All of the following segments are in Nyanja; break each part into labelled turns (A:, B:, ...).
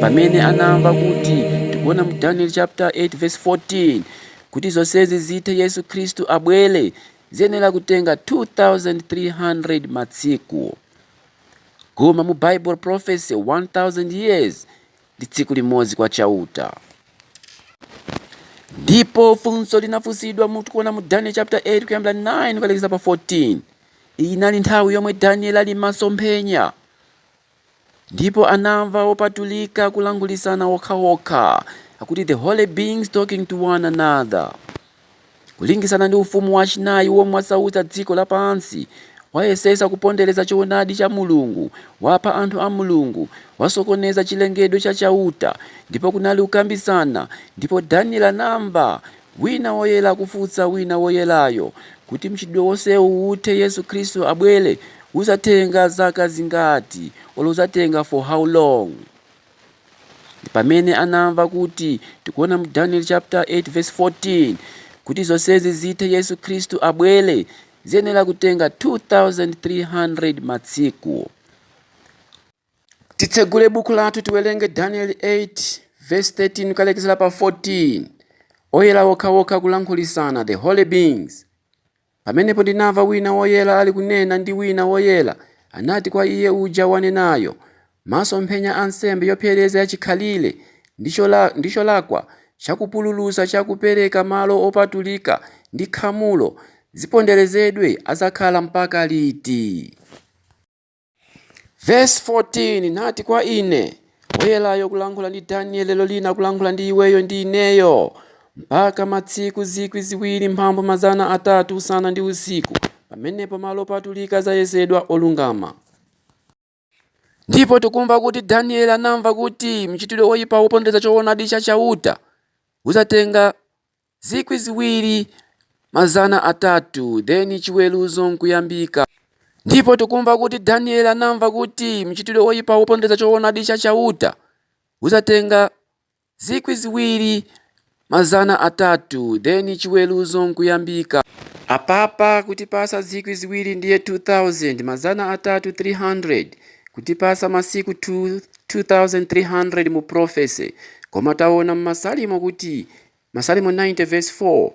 A: pamene anamva kuti tikuona mu daniel chapter 8 verse 14 kuti zonsezi zithe yesu khristu abwere ziyenera kutenga 2300 matsiku koma mu bible prophecy 1000 years ndi tsiku limodzi kwa chauta ndipo funso linafunsidwa mutikuona mu daniel chapter 8 kuyambira 9 kukalekeza pa 14 iyi inali nthawi yomwe daniel ali mmasomphenya Ndipo anamva opatulika kulankhulitsana okhaokha, akuti the holy beings talking to one another, kulingisana ndi ufumu wachinayi womwe wasautsa dziko lapansi, wayesetsa kupondereza choonadi cha Mulungu, wapha anthu a Mulungu, wasokoneza chilengedwe cha Chauta, ndipo kunali kukambitsana, ndipo Daniele anamva. Wina woyera kufunsa wina woyerayo, kuti mchitidwe wonsewu uthe Yesu Khristu abwere, uzatenga zaka zingati, olo uzatenga for how long? Ndipamene anamva kuti tikuona mu Daniel chapter 8 verse 14 kuti zonsezi zithe Yesu Khristu abwere, ziyenera kutenga 2300 matsiku. Titsegule buku lathu tiwerenge Danieli 8 verse 13 kukalekezera pa 14. Oyera okhaokha kulankhulitsana, the holy beings. Pamenepo ndinamva wina woyera ali kunena ndi wina woyera, anati kwa iye uja wanenayo, Masomphenya a nsembe yopsereza yachikhalire ndi chola- ndi cholakwa cha kupululutsa cha kupereka malo opatulika ndi khamulo ziponderezedwe adzakhala mpaka liti? Verse 14 nati kwa ine woyerayo kulankhula ndi Daniel lero lina kulankhula ndi iweyo ndi ineyo mpaka matsiku zikwi ziwiri mphambu mazana atatu usana ndi usiku pamenepo malo opatulika azayesedwa olungama ndipo tikumva kuti Daniel anamva kuti mchitidwe woyipa wopondereza choonadi cha Chauta uzatenga zikwi ziwiri mazana atatu then chiweruzo nkuyambika ndipo tikumva kuti daniel anamva kuti mchitidwe woyipa wopondereza choonadi cha chauta uzatenga zikwi ziwiri mazana atatu then chiweruzo nkuyambika apapa kutipasa zikwi ziwiri ndiye 2000 mazana atatu 300 kutipasa masiku 2 2300 mu prophecy koma taona mmasalimo kuti Masalimo 90 vesi 4,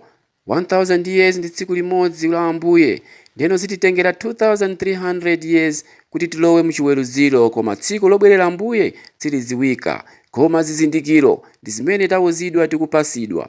A: 1000 years ndi tsiku limodzi la Ambuye, ndeno zititengera 2300 years kuti tilowe muchiweruziro koma tsiku lobwerera Ambuye siliziwika koma zizindikiro ndizimene tawuzidwa tikupasidwa.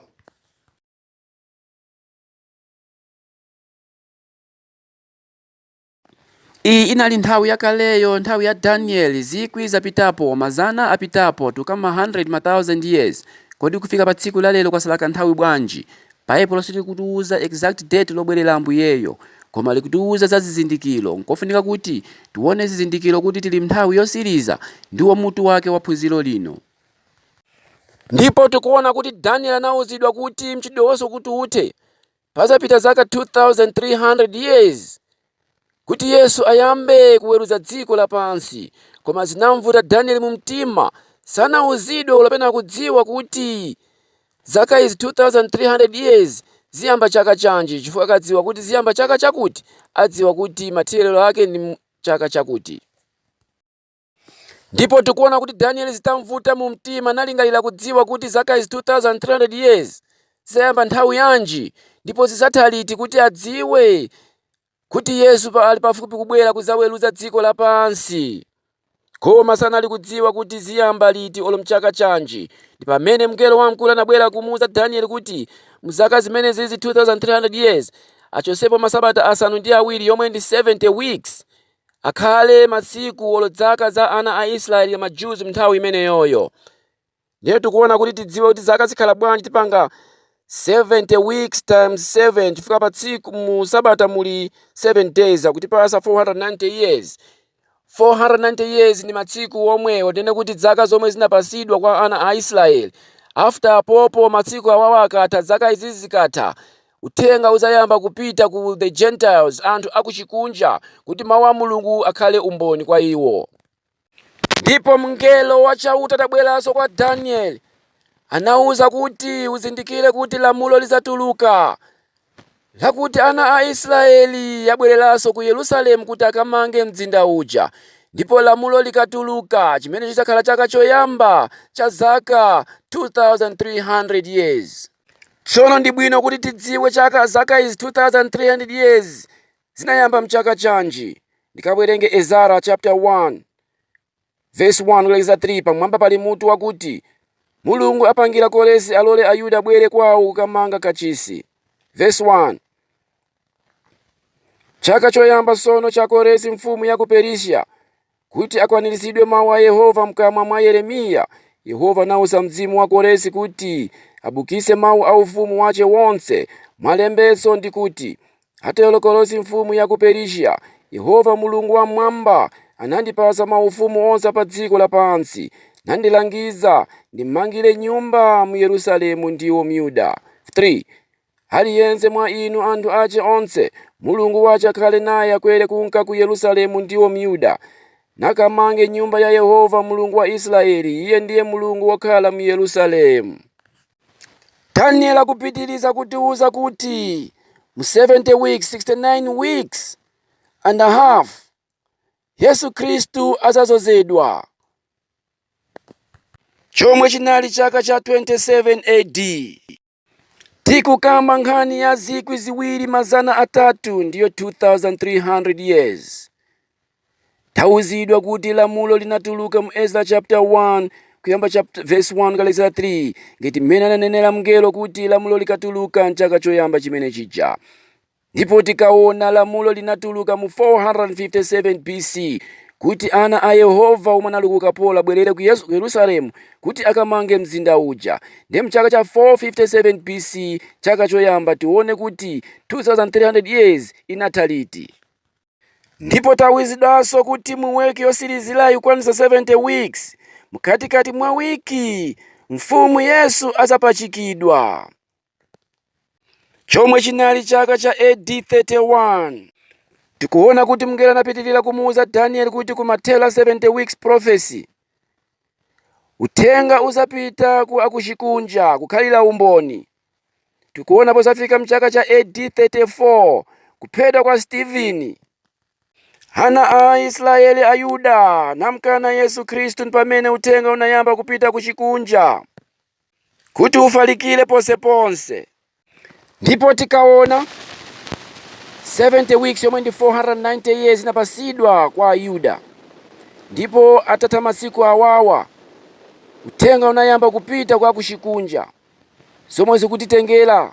A: Iyi inali nthawi yakaleyo, nthawi ya Danieli, zikwi zapitapo, mazana apitapo, tukamba ma handiredi masauzande years. Kodi kufika pa tsiku la lero kwasala kanthawi bwanji? Baibulo silikutiuza exact date lobwerera Ambuyeyo, koma likutiuza za zizindikiro. Nkofunika kuti tione zizindikiro kuti tili m'nthawi yotsiriza, ndiwo mutu wake wa phunziro lino. Ndipo tikuona kuti Danieli anauzidwa kuti mchitidwe wonsewu kuti uthe. Pazapita zaka 2,300 years kuti Yesu ayambe kuweruza dziko lapansi, koma zinamvuta Daniel mu mtima, sanauzidwe olo pena kudziwa kuti zaka izi 2,300 years ziyamba chaka chanji, chifukwa akadziwa kuti ziyamba chaka chakuti, adziwa kuti mathero ake ndi chaka chakuti. Ndipo tikuona kuti Danieli zitamvuta mu mtima nalingalira kudziwa kuti zaka izi 2300 years zizayamba nthawi yanji ndipo zizatha liti kuti adziwe kuti Yesu pa- ali pafupi kubwera kuzaweruza dziko lapansi. Koma sanali kudziwa kuti ziyamba liti olo mchaka chanji. Ndi pamene mngelo wamkulu anabwera kumuuza Danieli kuti mzaka zimene zizi 2300 years achosepo masabata asanu ndi awiri yomwe ndi 70 weeks akhale masiku olo dzaka za ana a Israeli ma Jews mnthawi imeneyoyo. Ndiye tikuona kuti tidziwe kuti zaka zikhala bwanji tipanga 70 weeks times 7 chifukwa pa tsiku mu sabata muli 7 days akutipasa 490 years 490 years ndi matsiku omwe tinene kuti dzaka zomwe zinapasidwa kwa ana a Israeli after apopo matsiku awawa akatha dzaka izi zikatha Uthenga udzayamba kupita ku the Gentiles, anthu akuchikunja, kuti Mawu a Mulungu akhale umboni kwa iwo. Ndipo Mngelo wa Chauta atabweranso kwa Danieli, anauza kuti, Uzindikire kuti lamulo lidzatuluka, lakuti ana a Israeli abwereranso ku Yerusalemu kuti akamange mzinda uja. Ndipo lamulo likatuluka, chimenecho chidzakhala chaka choyamba cha zaka 2,300 years. Tsono ndi bwino kuti tidziwe chaka zaka izi 2300 years zinayamba mchaka chanji. Ndikawerenge Ezara chapter 1 verse 1 kulekeza 3 pamwamba pali mutu wakuti Mulungu apangira Koresi alole Ayuda abwere kwawo kukamanga kachisi. Verse 1 Chaka choyamba sono cha Koresi mfumu ya ku Perisia Kuti akwaniritsidwe mawu a Yehova m'kamwa mwa Yeremiya, Yehova anautsa mzimu wa Koresi kuti abukitse mawu a ufumu wace wonse mwa lembanso ndi kuti, Atero Koresi mfumu ya ku Perisiya, Yehova Mulungu Wam'mwamba anandipatsa maufumu onse a padziko lapansi, nandilangiza ndim'mangire nyumba m'Yerusalemu ndiwo m'Yuda, 3 Ali yense mwa inu anthu ace onse, Mulungu wace akhale naye, akwere kunka ku Yerusalemu, ndiwo m'Yuda, nakamange nyumba ya Yehova Mulungu wa Israyeli, iye ndiye Mulungu wokhala m'Yerusalemu. Daniel akupitiriza kutiuza kuti mu 70 weeks, 69 weeks and a half, Yesu Kristu adzazozedwa, chomwe chinali chaka cha 27 AD. Tikukamba nkhani ya zikwi ziwiri mazana atatu ndiyo 2300 years. Tauzidwa kuti lamulo linatuluka mu Ezra chapter 1 kuyamba chapter, verse 1 kulekera 3 ngati mmene ananenera mngelo kuti lamulo likatuluka mchaka choyamba chimene chija. Ndipo tikaona, lamulo linatuluka mu 457 B.C. kuti ana a Yehova omwe anali ku ukapolo abwerere ku Yesu- ku Yerusalemu kuti akamange mzinda uja. Ndiye mchaka cha 457 B.C. chaka choyamba tione kuti 2300 years inatha liti. Ndipo tauzidwanso kuti mu week yosilizirayi kukwanitsa 70 weeks, mkatikati mwa week yi, Mfumu Yesu azapachikidwa. chomwe chinali chaka cha AD 31. Tikuona kuti mngelo anapitirira kumuuza Danieli kuti kumathera 70 weeks prophecy, uthenga uzapita kwa akuchikunja kukhalira umboni. Tikuona pozafika mchaka cha AD 34 kuphedwa kwa Stephen, ana a Aisraeli Ayuda anamkana Yesu Khristu ndipamene uthenga unayamba kupita kuchikunja. kuti ufalikire ponseponse ndipo tikaona 70 weeks yomwe ndi 490 years inapasidwa kwa Ayuda ndipo atatha masiku awawa uthenga unayamba kupita kwa akuchikunja zomwe zikutitengera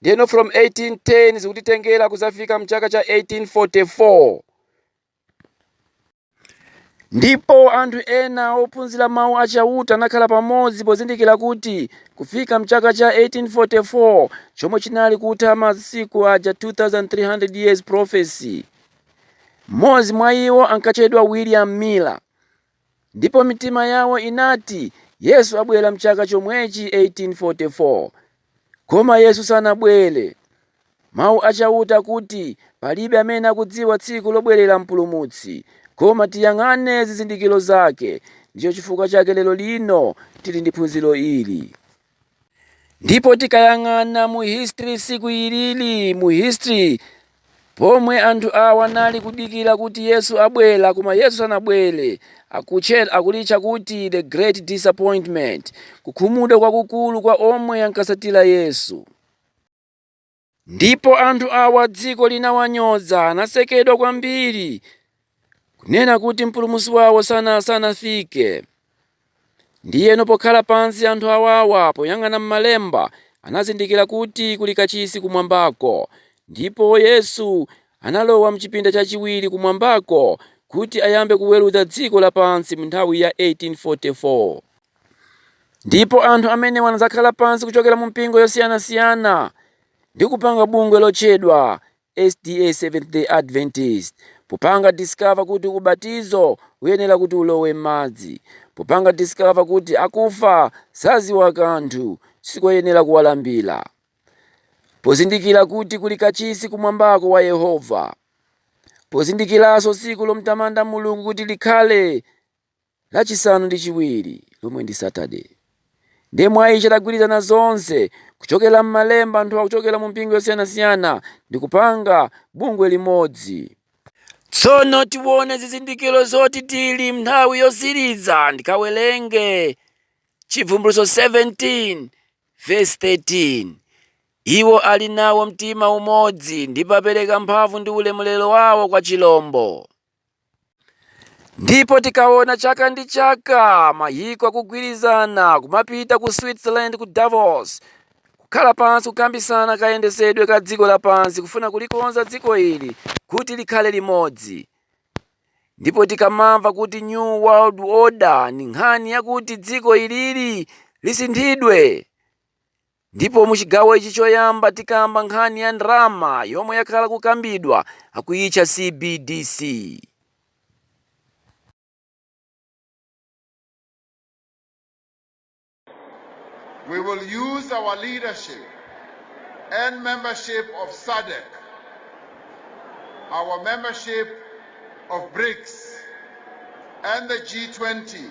A: Ndiyeno from 1810 zikutitengera kudzafika mchaka cha 1844. Ndipo anthu ena ophunzira mawu a Chauta anakhala pamodzi pozindikira kuti kufika mchaka cha 1844 chomwe chinali kutha masiku aja 2300 years prophecy. Mmodzi mwa iwo ankatchedwa William Miller. ndipo mitima yawo inati Yesu abwera mchaka chomwechi 1844. Koma Yesu sanabwere. Mau a Chauta akuti palibe amene akudziwa tsiku lobwerera Mpulumutsi, koma tiyang'ane zizindikiro zake. Ndicho chifukwa chake lero lino tili ndi phunziro ili. ndipo tikayang'ana mu history siku ilili mu history pomwe anthu awa anali kudikira kuti yesu abwera koma yesu sanabwere akulitcha kuti the great disappointment kukhumudwa kwakukulu kwa omwe ankatsatira yesu Ndipo anthu awa dziko linawanyoza, anasekedwa kwambiri, kunena kuti mpulumusi wawo sana sanafike. Ndiyeno pokhala pansi anthu awawa poyang'ana m'malemba anazindikira kuti kuli kachisi kumwambako, ndipo Yesu analowa mchipinda chachiwiri kumwambako kuti ayambe kuweruza dziko lapansi mnthawi ya 1844. Ndipo anthu amenewa anadzakhala pansi kuchokera mu mpingo yosiyanasiyana ndi kupanga bungwe lotchedwa SDA Seventh Day Adventist popanga discover kuti ubatizo uyenera kuti ulowe m'madzi popanga discover kuti akufa sadziwa kanthu sikoyenera kuwalambira pozindikira kuti kuli kachisi kumwambako wa Yehova pozindikiranso tsiku lomtamanda Mulungu kuti likhale lachisanu ndi chiwiri, lomwe ndi Saturday. Ndiye mwa ichi adagwirizana zonse kuchokera m'malemba anthu awa kuchokera mu mpingo yosiyanasiyana ndi kupanga bungwe limodzi. Tsono tione zizindikiro zoti tili m'nthawi yotsiriza ndikawerenge Chibvumbulutso 17 vesi 13 Iwo ali nawo mtima umodzi ndipo apereka mphamvu ndi ulemerero wawo kwa chilombo. Ndipo tikaona chaka ndi chaka mayiko akugwirizana kumapita ku Switzerland ku Davos kukhala pansi kukambisana kayendesedwe ka dziko lapansi kufuna kulikonza dziko ili kuti likhale limodzi. Ndipo tikamamva kuti New World Order ndi nkhani yakuti dziko ilili lisinthidwe. Ndipo mu chigawo ichi choyamba tikamba nkhani ya ndalama yomwe yakhala kukambidwa akuyitcha CBDC. We will use our leadership and membership of SADC, our membership of BRICS and the G20.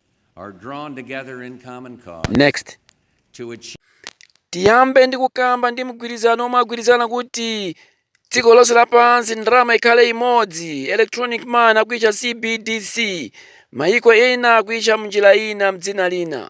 A: tiyambe ndi kukamba ndi mgwirizano omwe agwirizana kuti dziko lonse lapansi ndalama ikhale imodzi electronic money akuitcha cbdc mayiko ena akuitcha mnjira ina mdzina lina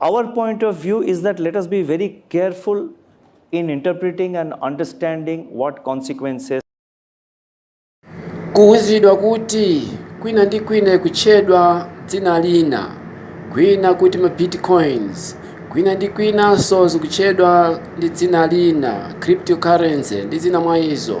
A: Our point of view is that let us be very careful in interpreting and understanding what consequences kuuzidwa kuti kwina ndi kwina ikutchedwa dzina lina kwina kuti ma bitcoins kwina ndi kwinanso zikutchedwa ndi dzina lina cryptocurrency ndi zina mwa izo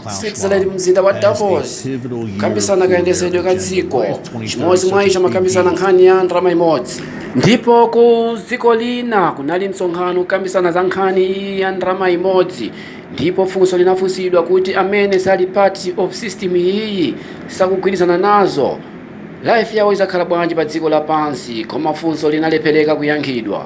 A: switzerland mzinda wa davos kukambisana kayendetsedwe ka dziko chimodzi mwa izo amakambisana nkhani ya ndalama imodzi ndipo ku dziko lina kunali msonkhano kukambisana za nkhani iyi ya ndalama imodzi ndipo funso linafunsidwa kuti amene asali part of system iyi sakugwirizana nazo life yawo izakhala bwanji pa dziko lapansi koma funso linalephereka kuyankhidwa